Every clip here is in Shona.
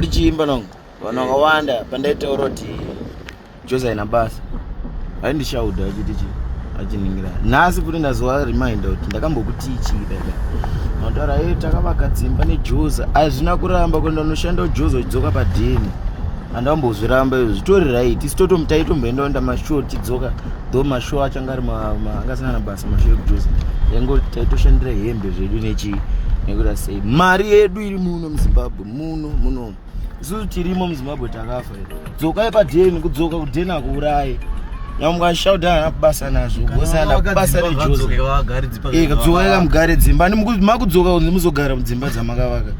ndichiimba nongo vanhu vakawanda pandaitaura kuti jose aina basa ai ndichauda achiti chi achiningira nhasi kuti ndazowa reminder kuti ndakambokutichii dada mataura e takavaka dzimba nejose hazvina kuramba kuti ndanoshanda ujose uchidzoka padhini andambozviramba izvo zvitori right isi totomutaitomboendawo ndamashow tidzoka tho mashow achanga ari angasina na basa mashow ekujuzi yango taitoshandira hembe zvedu nechii nekuda sei mari yedu iri muno muzimbabwe muno muno isusu tirimo muzimbabwe takafa dzokai padeni kudzoka kudeni akuurayi nyamukashaudana basa nazvo vosana basa nejosekamugare dzimba makudzoka kunzi muzogara mudzimba dzamakavaka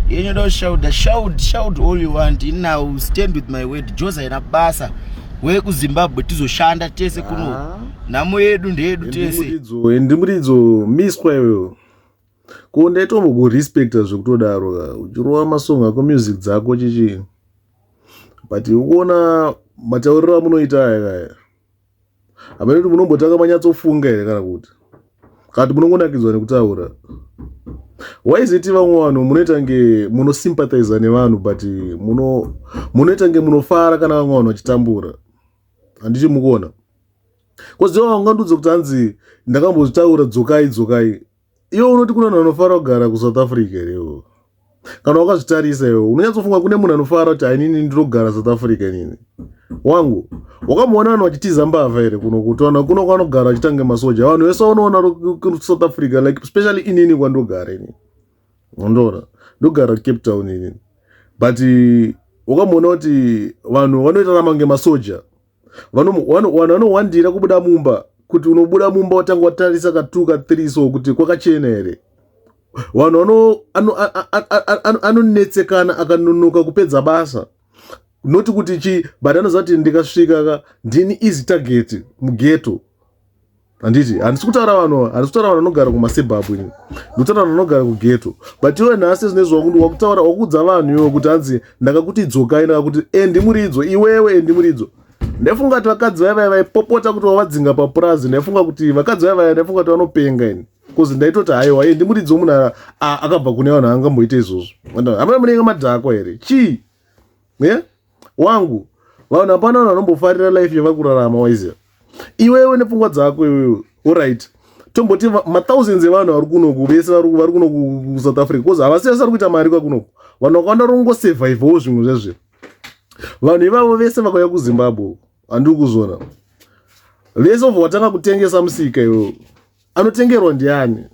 yenyu do shauda shaud shaud all you want now stand with my word jose aina basa wekuzimbabwe tizoshanda tese kuno ah. nhamo yedu ndeyedu tese ndimuridzo miswa iyoyo Ko ndaitomboku respecta zvekutodaro ka uchirova masong ako music dzako chichi but ukuona matauriro amunoita aya kaya hamene kuti munombotanga manyatsofunga here kana kuti kana kuti munongonakidzwa nekutaura waiziti vamwe vanhu munoita nge munosympathiza nevanhu but munoita nge munofara kana vamwe vanhu vachitambura handiti mukuona koziva vangandudze kuti hanzi ndakambozvitaura dzokai dzokai iwe unoti kune munhu anofara kugara kusouth africa here iwo kana wakazvitarisa iwe unonyatsofunga kune munhu anofara kuti ainini ndinogara south africa nini wangu wakamboona vanhu vachitiza mbavha here kuno kutona kuno kwanogara vachitange masoja vanhu vese vanoona south africa like especially inini kwandogara inini ndoona ndogara cape town inini but wakamboona kuti vanhu vanoita ramange masoja vanowandira kubuda mumba kuti unobuda mumba watanga watarisa katuka three so kuti kwakachena here vanhu anonetsekana akanonoka kupedza basa noti kuti chii but anozati ndikasvika ka ndini easy target mugeto handiti handisi kutaura vanhu handisi kutaura vanhu vanogara kumasebhabhu ini ndikutaura vanhu vanogara kugeto but iwe nhasi zvinezvi wakuti wakutaura wakuudza vanhu iwe kuti hanzi ndakakuti idzokai ndakakuti endi muri idzo iwewe endi muri idzo ndaifunga kuti vakadzi vaya vaya vaipopota kuti vavadzinga papurazi ndaifunga kuti vakadzi vaya vaya ndaifunga kuti vanopenga ini bcause ndaitoti haiwa endi muri idzo munhu akabva kune vanhu angamboita izvozvo amana munenge madhakwa here chii yeah? wangu vanhu hapana vanhu vanombofarira life yevakurarama waiziva iwewe nepfungwa dzako iwewe orit tomboti mathousands evanhu vari kunoku vese vari kunoku kusouth africa bcause havasi vese vari kuita mari kwakunoku vanhu vakawanda vari kungosurvivawo zvimwe zvezvino vanhu ivavo vese vakauya kuzimbabwe uku handiri kuzvona vese obva watanga kutengesa musika iwewe anotengerwa ndiani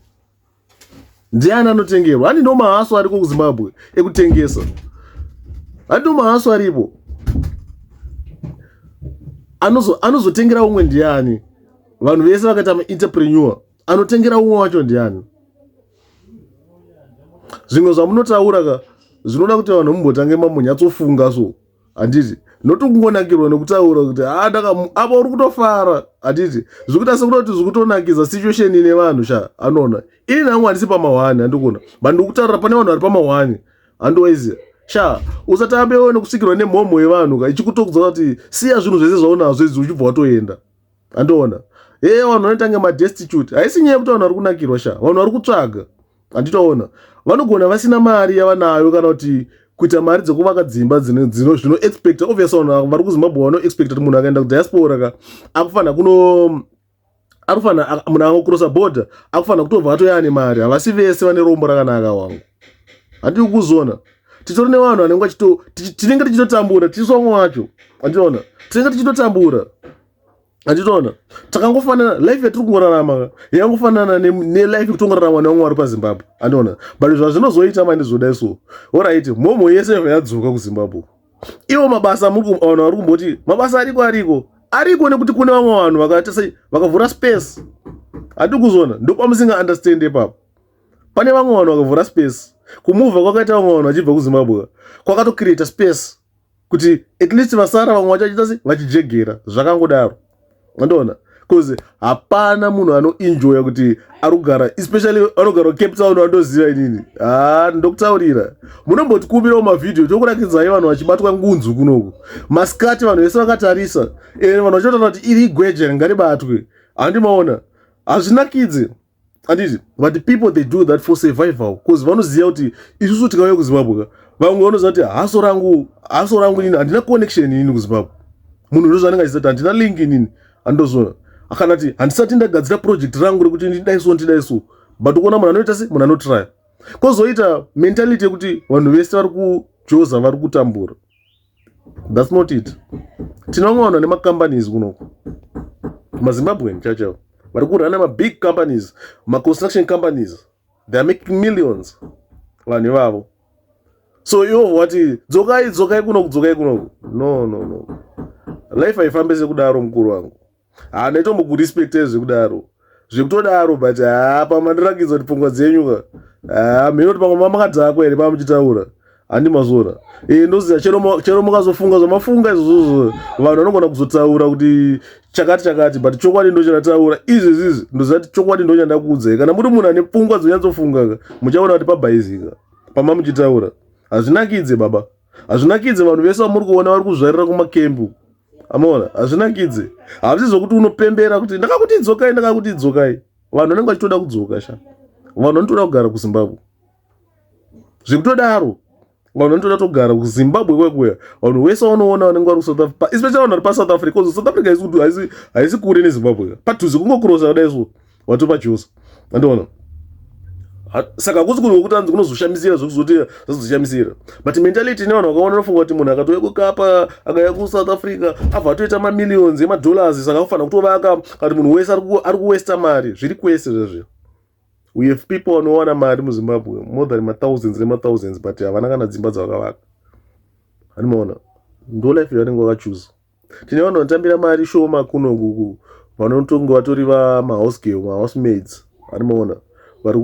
ndiani anotengerwa ani ndo mahaso ariko kuzimbabwe ekutengesa ani ndo mahaso aripo anozotengera umwe ndiani vanhu vese vakaita mainterpreneur anotengera umwe wacho ndiani zvimwe zvamunotaura ka zvinoda kuti vanhu mumbotange mambonyatsofunga so handiti not kungonakirwa nekutaura kuti ha ndakamu apa uri kutofara handiti zvikuita sekutoti zvikutonakidza situation ine vanhu sha anoona ini nangu handisi pamahwani handikuona but ndikutaura pane vanhu vari pamahwani handiwaizi sha usatambewo nekusvikirwa nemhomho yevanhu ka ichikutokudza kuti siya zvinhu zvese zvaunazvo izvi uchibva watoenda andiona ee vanhu vanoita kunge madestitute haisi nyaya yekuti vanhu vari kunakirwa sha vanhu vari kutsvaga handitaona vanogona vasina mari yavanayo kana kuti kuita mari dzekuvaka dzimba zvinoexpecta obvious vanhu vari kuzimbabwe vanoexpecta kuti munhu akaenda kudiaspora ka akufanira kuno akufanira munhu akacrossa border akufanira kutobva atoya ane mari havasi vese vane rombo rakanaka wangu handii kuzona titori nevanhu vanenge vachito tinenge tichitotambura tisu vamwe wacho anditoona tinenge tichitotambura anditoona takangofanana life yatiri kungorarama yakangofanana nelife yekutongoraramwa nevamwe vari pazimbabwe anditoona but zvazvinozoita mani zvodai so orit mhomho yese yadzoka kuzimbabwe ivo mabasa vanhu vari kumboti mabasa ariko ariko ariko nekuti kune vamwe vanhu vakaita sei vakavhura space hati kuzona ndopamusinga understand ipapo pane vamwe vanhu vakavhura space kumuva kwakaita vamwe vanhu vachibva kuzimbabwe kwakatocreata space kuti at least vasara vamwe vacho vachiita se vachijegera zvakangodaro andoona bcause hapana munhu anoenjoya kuti ari kugara especially anogara cape town andoziva inini haa ah, ndokutaurira munombotikumirawo mavhidhiyo tokurakidzai vanhu vachibatwa ngunzu kunoku masikati vanhu vese vakatarisa and vanhu vachiotaura kuti iri igweje ringaribatwe handimaona hazvinakidzi ah, handiti but people they do that for survival bcause vanoziva kuti isusu tikauya kuzimbabwe ka vamwe vanoziva kuti haso rangu haso rangu inini handina connection inini kuzimbabwe munhu ndo zvanenge achizati handina link inini handozona akana ti handisati ndagadzira project rangu rekuti ndidai so ndidai so but ukuona munhu anoita se munhu anotrya kwozoita mentality yekuti vanhu vese vari kujoza vari kutambura thats not it tinongoona nemacompanies kunoku mazimbabwen chachao vari kurana mabig companies maconstruction companies theyare making millions vanhu ivavo so ivo vati dzokai dzokai kunoku dzokai kunoku no no no life haifambe sekudaro mukuru wangu haa ndaitombokurespecta zvekudaro zvekutodaro but haa pamwe mandirakidza kuti pfungwa dzenyu ka haa mheno kuti pamwe mamakadhakwa here pamwe muchitaura handi mazora e, eh, ndoziva chero mukazofunga zvamafunga izvozvozvo vanhu vanogona kuzotaura kuti chakati chakati but chokwadi ndo chandataura izvezvizi ndoziva kuti chokwadi ndo chandakuudzai kana muri munhu ane pfungwa dzonyatsofunga ka muchaona kuti pabhaizika pama muchitaura hazvinakidze baba hazvinakidze vanhu vese vamuri kuona vari kuzvarira kumakembu amaona hazvinakidze hazvisi zvokuti unopembera kuti ndakakuti idzokai ndakakuti idzokai vanhu vanenge vachitoda kudzoka sha vanhu vanotoda kugara kuzimbabwe zvekutodaro vanhu vanotoda togara kuzimbabwe kwekuya vanhu wese vanoona vanenge vari kusouth africa especially vanhu vari pasouth africa bcause south africa haisi kure nezimbabwe padhuze kungokurosa kudai so watopa chose andiona saka kusi kuti wekuti anzi kunozoshamisira zvekuzoti zvazoshamisira but mentality ine vanhu vakaona nofunga kuti munhu akatouya kukapa akauya kusouth africa abva atoita mamillions emadollars saka kufanira kutovaka kati munhu wese ari kuwesta mari zviri kwese zvezvi we have people vanowana mari muzimbabwe more than mathousands nemathousands but havana kana dzimba dzavakavaka handimaona ndo life yavanenge vakachuza tine vanhu vanotambira mari shoma kuno kuku vanotonge vatori vamahouse girl mahouse maids ari maona vari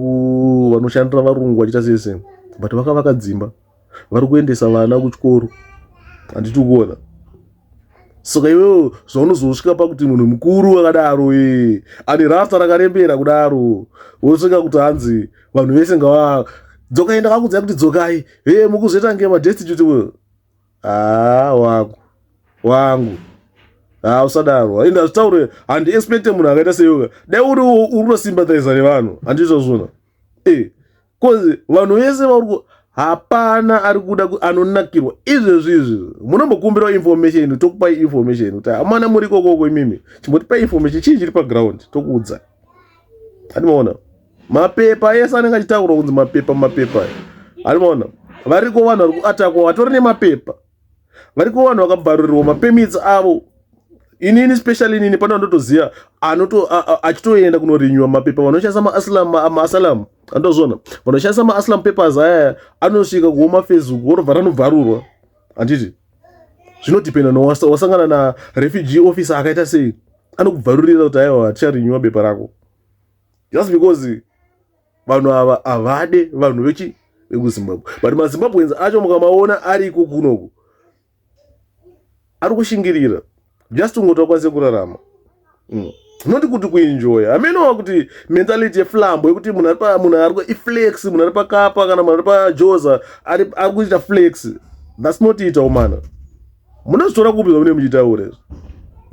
vanoshandira varungu vachiita sese but vakavaka dzimba vari kuendesa vana kuchikoro handiti kuona saka iwewo zvaunozosvika pakuti munhu mukuru akadaro e ane rasta rakarembera kudaro wosvika kuti hanzi vanhu vese ngava dzokaenda kakudzai kuti dzokai hee mukuzoita nge madestitute haa wangu wangu haa usadaro hayi ndazvitaure handiexpecte munhu akaita seyoga dai uriwo uri kutosympathiza nevanhu handizvozvona e bcause vanhu vese vauri hapana ari kuda anonakirwa izvezvi izvi munombokumbirawo information tokupai information kuti hamana muri ikokoko imimi chimbotipai information chii chiri paground tokuudza handimaona mapepa ese anenge achitaurwa kunzi mapepa mapepa arimaona variko vanhu vari kuatakwa vatori nemapepa variko vanhu vakabvarurirwa mapermits avo inini special inini pane vandotoziva anoto achitoenda kunorinywa mapepa vanoshandisa maaslam maaslam andozvona vanoshandisa maaslam papers ayaya anosvika kuhoma facebook vorobva ranobvarurwa handiti zvinodependa no wasangana na refugee officer akaita sei anokubvarurira kuti aiwa ticharinywa bepa rako just because vanhu ava havade vanhu vechi vekuzimbabwe but mazimbabweans acho mukamaona ariko kunoku ari kushingirira just ungoti akwanise kurarama mm. noti kuti kuenjoya hamenowa kuti mentality yeflambo yekuti munhu ari iflex munhu ari pakapa kana munhu ari pajoza ari kuita flex thats not ita umana munozvitora kupi zvamune muchitaura izvo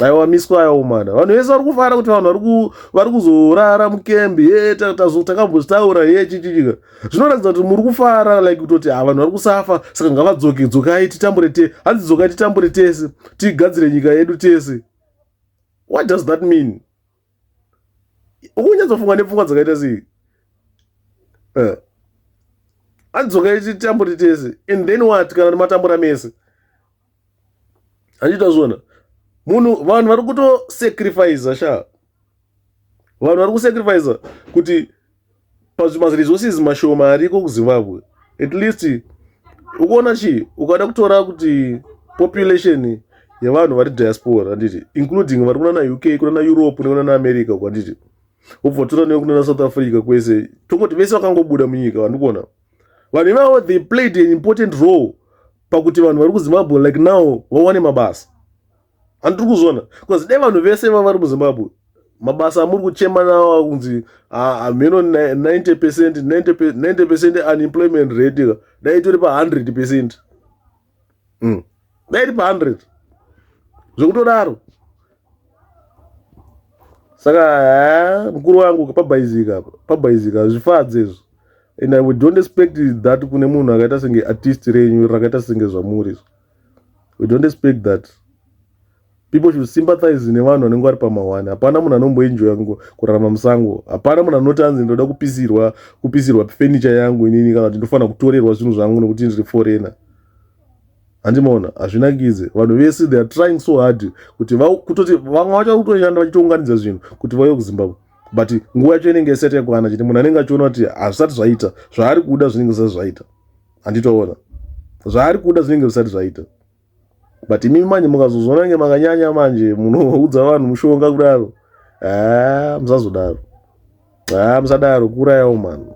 aiwa miswa yawo mana vanhu vese vari kufara kuti vanhu vari kuzorara mukembi ye takambozvitaura ye chichichika zvinoratidza kuti muri kufara like kutoti ha vanhu vari kusafa saka ngavadzoke dzokai titambure te hanzi dzokai titambure tese tigadzire nyika yedu tese what does that mean ukunyatsofunga nepfungwa dzakaita sei eh. adzoka ititamburi tese and then what kana nematambura mese handiita zvona munhu vanhu vari kutosacrifiza sha vanhu vari kusacrifiza kuti plus maresources mashoma ariko kuzimbabwe at least ukuona chii ukada kutora kuti population yevanhu vari diaspora handiti including vari kuna nauk kuna naeurope nekuna naamerica uko handiti ubva tora newe kuna nasouth africa kwese tongoti vese vakangobuda munyika vandikuona vanhu ivavo they played an important role pakuti vanhu vari kuzimbabwe like now vawane mabasa handiri kuzviona bcause dai vanhu vese vavari muzimbabwe mabasa amuri kuchema nawo kunzi hameno ah, 90 ah, percent 90 percent unemployment rate ka dai itori pa100 percent hmm. dai iri pa100 zvekutodaro saka eh, mukuru wangu pabhaizika pabhaizika zvifadze izvo and i don't expect that kune munhu akaita senge artist renyu rakaita senge zvamuri izvo we don't expect that people should sympathize nevanhu vanenge vari pamahwani hapana munhu anomboenjoya kurarama musango hapana munhu anoti anzi ndoda kupisirwa kupisirwa furniture yangu inini kana kuti ndofanira kutorerwa zvinhu zvangu nekuti ndiri foreigner handimaona hazvinakidze vanhu vese they are trying so hard kuti kutoti vamwe vacho kutoshanda vachitounganidza zvinhu kuti vauye kuzimbabwe but nguva yacho inenge isati yakwana chete munhu anenge achiona kuti hazvisati zvaita zvaari kuda zvinenge zvisati zvaita handitoona zvaari kuda zvinenge zvisati zvaita but imi manje mukazozviona nge makanyanya manje munoudza vanhu mushonga kudaro haa musazodaro haa musadaro kuurayawo mano